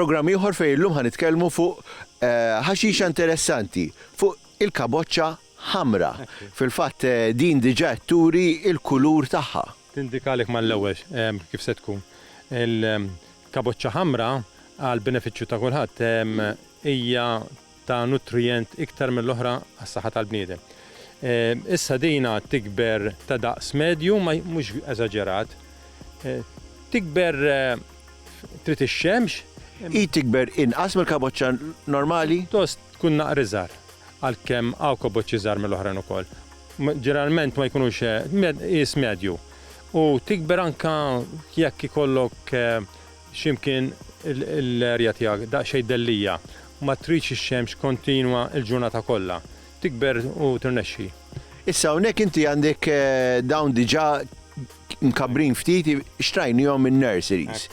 Programm ieħor fejn illum ħa nitkellmu fuq eh, ħaxixa interessanti fuq il-kaboċċa ħamra. Fil-fatt eh, din diġà turi il-kulur tagħha. Tindikalik mal-ewwel eh, kif se tkun. Kaboċċa ħamra, għall-benefiċċju ta' kulħadd, hija ta' nutrijent iktar mill-oħra għas-saħħa tal-bniedem. Issa dina tikber ta' daqs medju, mhux eżaġerat. Tikber trid ix-xemx. Hi tikber inqas mill-kaboċċa normali? Pjuttost tkun naqra iżgħar, għalkemm hawn kaboċċi iżgħar mill-oħrajn ukoll. Ġeneralment ma jkunux, qies medju. U tikber anke jekk ikollok x'imkien l-erja tiegħek daqsxejn dellija, ma tridx ix-xemx kontinwa l-ġurnata kollha. Tikber u tirnexxi. Issa hawnhekk inti għandek dawn diġà mkabbrin ftit, xtrajnihom minn nurseries.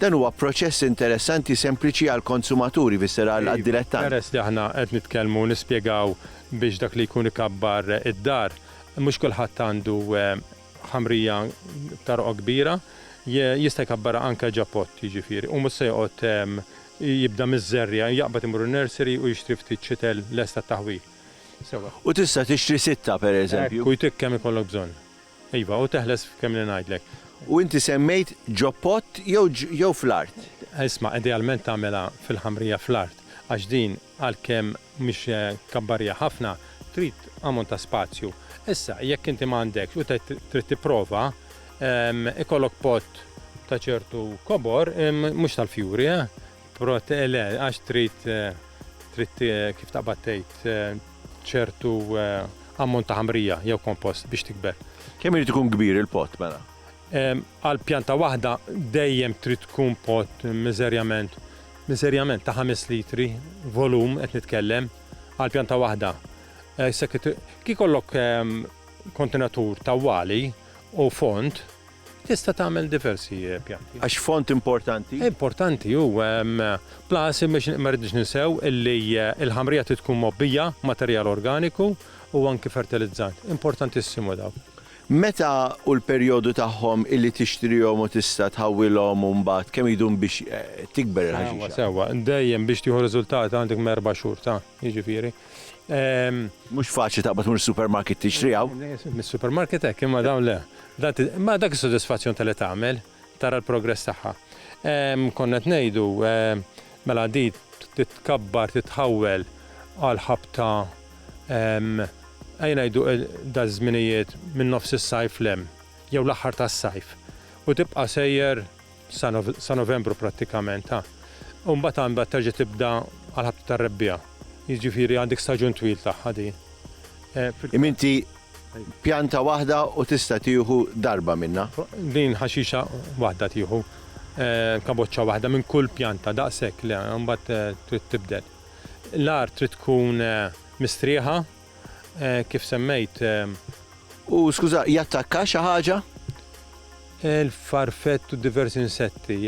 Dan huwa proċess interessanti sempliċi għall-konsumaturi, fisser għad-dilettant. Peress li aħna qed nitkellmu nispjegaw biex dak li jkun ikabbar id-dar, mhux kulħadd għandu ħamrija ta' roqgħa kbira, jista' jkabbarha anke ġapott, jiġifieri, u mhux se joqgħod jibda miż-żerriegħa, jaqbad imur in-nursery u jixtri ftit ċitel lest għat-taħwil. Sewwa. U tista' tixtri sitta, pereżempju. Hekk, u jtik kemm ikollok bżonn. Iva, u teħles f'kemm li ngħidlek. U inti semmejt ġopott jew jew fl-art? Isma', idealment tagħmilha fil-ħamrija fl-art, għax din. għalkemm mhix kabbarija ħafna, trid ammont ta' spazju. Issa, jekk inti ma għandekx u trid tipprova, ikollok pot ta' ċertu kobor, mhux tal-fjuri, le, għax trid trid kif taqbad tgħid ċertu ammont ta' ħamrija jew kompost biex tikber. Kemm irid ikun kbir il-pot mela? Għal pjanta waħda dejjem trid tkun pot miżerjament miżerjament ta' ħames litri volum qed nitkellem għal pjanta waħda. Kif kollok kontenatur ta' wali u font, tista' tagħmel diversi pjanti. Għax font importanti? Importanti hu, plus ma rridniex ninsew illi l-ħamrija trid tkun mgħobbija b'materjal organiku u anki fertilizzant. Importantissimu dawn. Meta u l-perjodu tagħhom illi tixtrihom u tista' tħawwilhom u mbagħad kemm idum biex tikber il-ħaxixa? Sewwa, sewwa. Dejjem biex tieħu riżultati għandek minn erba' xhur ta', jiġifieri, ehm. Mhux faċli taqbad tmur is-supermarket tixtriha. Mis-supermarket hekk, imma dawn le. Dan, imma dak is-sodisfazzjon ta' li tagħmel. tara l-progress tagħha. Konna qed ngħidu, mela di titkabbar, titħawwel għal ħabta, ejja ngħidu daż-żminijiet minn nofs is-sajf 'l hemm, jew l-aħħar tas-sajf, u tibqa' sejjer sa Novembru prattikament, ha. U mbagħad ha mbagħad terġa' tibda għall-ħabta tar-Rebbiegħa. Jiġifieri għandek staġun twil tagħha din. Imma inti Pjanta waħda u tista' tieħu darba minnha. Din ħaxixa waħda tieħu. Kaboċċa waħda minn kull pjanta, daqshekk, le, imbagħad trid tibdel. L-art trid tkun mistrieħa, kif semmejt. U skuża, jattakka xi ħaġa? Il-farfett u diversi insetti,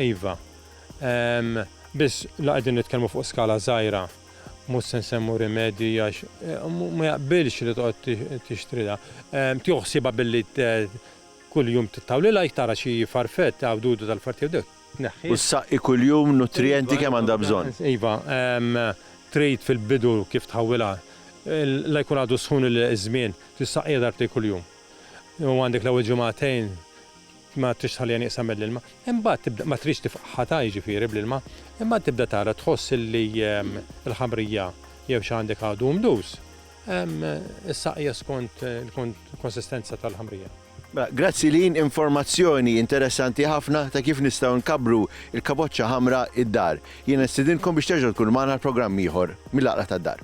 iva. Biss la qegħdin nitkellmu fuq skala żgħira. Mhux se nsemmu rimedji għax ma jaqbilx li toqgħod tixtrilha. Tieħu ħsiebha billi kuljum tittawlilha jekk tara xi farfett, għawdudu tal-fart jew dewk, tneħħih. U ssaqqi kuljum nutrijenti kemm għandha bżonn. Iva, trid fil-bidu kif tħawwilha, la jkun għadu sħun iż-żmien, tissaqqija darbtejn kuljum. U għandek l-ewwel ġimagħtejn. Ma trix tħalliha nieqsa mill-ilma. Imbagħad tibda, ma trix tifqħatha jiġifieri bl-ilma, imbagħad tibda tara tħoss li l-ħamrija jew xi għandek għadu hu mdus. Issaqqiha skont il-konsistenza tal-ħamrija. Mela, grazzi Lynn, informazzjoni interessanti ħafna ta' kif nistgħu nkabbru l-kaboċċa ħamra id-dar. Jiena nistidinkom biex terġgħu tkunu magħna għal programm ieħor mill-Għaqla tad-Dar.